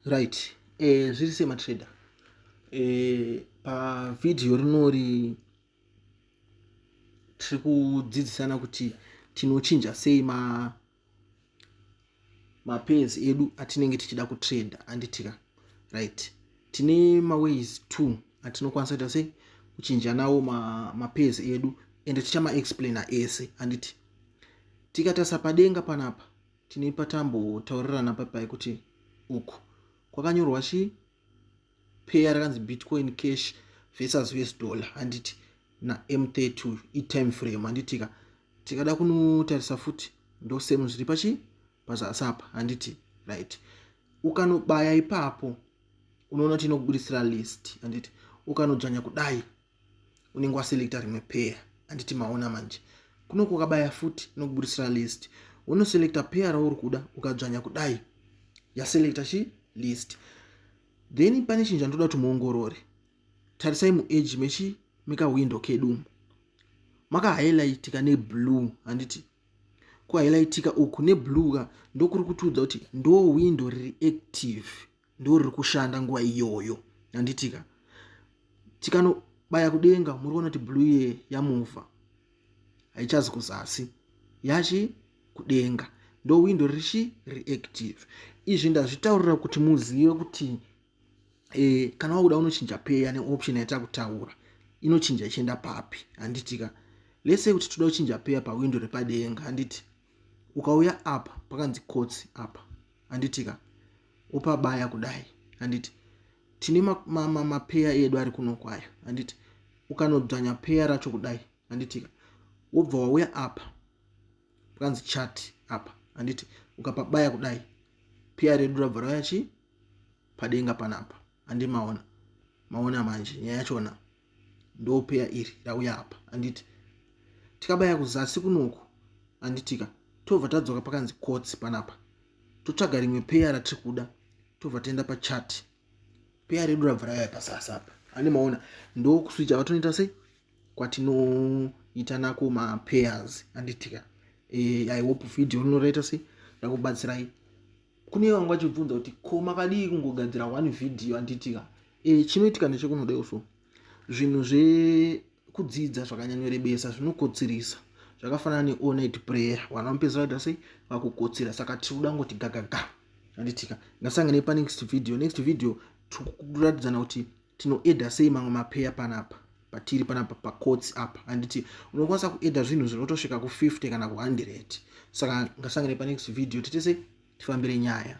right eh, zviri sematrader eh, pavhidhiyo rinori tiri kudzidzisana kuti tinochinja sei ma mapairs edu atinenge tichida kutrade anditika right tine maways two atinokwanisa kuita sei kuchinja nawo mapairs ma edu ende tichamaexplaina ese anditi tikatarisa padenga panapa Tine patambotaurirana papai kuti uku kwakanyorwa chi payer rakanzi bitcoin cash versus us dollar handiti nam30 uyu itime frame handitika tikada kunotarisa futi ndosemu zviri pachi pazasi apa handiti right ukanobaya ipapo unoona kuti inokubudisira list handiti ukanodzvanya kudai unenge waselecta rimwe pair handiti maona manje kuno kukabaya futi inokubudisira list unoselecta pair rauri kuda ukadzvanya kudai yaselecta chi list then pane chinhu chandoda kuti muongorore tarisai muage mechi mekawindo kedumu makahighlightika neblue handiti kuhighlightika uku neblue ka ndokuri kutiudza kuti ndo windo riri active ndo riri kushanda nguva iyoyo handitika tikanobaya kudenga muri kuona kuti blue ye yamuva haichazi kuzasi yachi kudenga ndo window richi reactive izvi ndazvitaurira kuti muzive kuti e, kana wakuda unochinja peya neoption yaita kutaura inochinja ichienda papi handitika lese kuti toda kuchinja peya pawindo repadenga handiti ukauya apa pakanzi kotsi apa handitika upabaya kudai handiti tine mapeya edu ari kuno kwayo handiti ukanodzvanya peya racho kudai handitika wobva wauya apa pakanzi chat apa handiti ukapabaya kudai peya redu rabva rauya chii padenga panapa handimaona maona manje nyaya yachona ndopeya iri rauya apa handiti tikabaya kuzasi kunoku handitika tobva tadzoka pakanzi kotsi panapa totsvaga rimwe peya ratiri kuda tobva taenda pachati peya redu rabva rauya pazasi apa ane maona ndokuswicha vatonoita sei kwatinoita nako mapayers handitika e, eh, i hope video rinoraita sei rakubatsirai kune vanga vachibvunza kuti ko makadii kungogadzira one video anditika e, eh, chinoitika nechekunodewo so zvinhu zvekudzidza zvakanyanyorebesa zvinokotsirisa zvakafanana neonit prayer vanhu vamupedza vaita sei vakukotsira saka tiri kuda ngoti gagaga anditika ngasange nepane next video next video tikuratidza kuti tinoedha sei mamwe mapeya panapa patiri panapa pakotsi apa handiti unokwanisa kuedha zvinhu zvinotosvika ku50 kana ku100 saka ngasangane panext video titese tifambire nyaya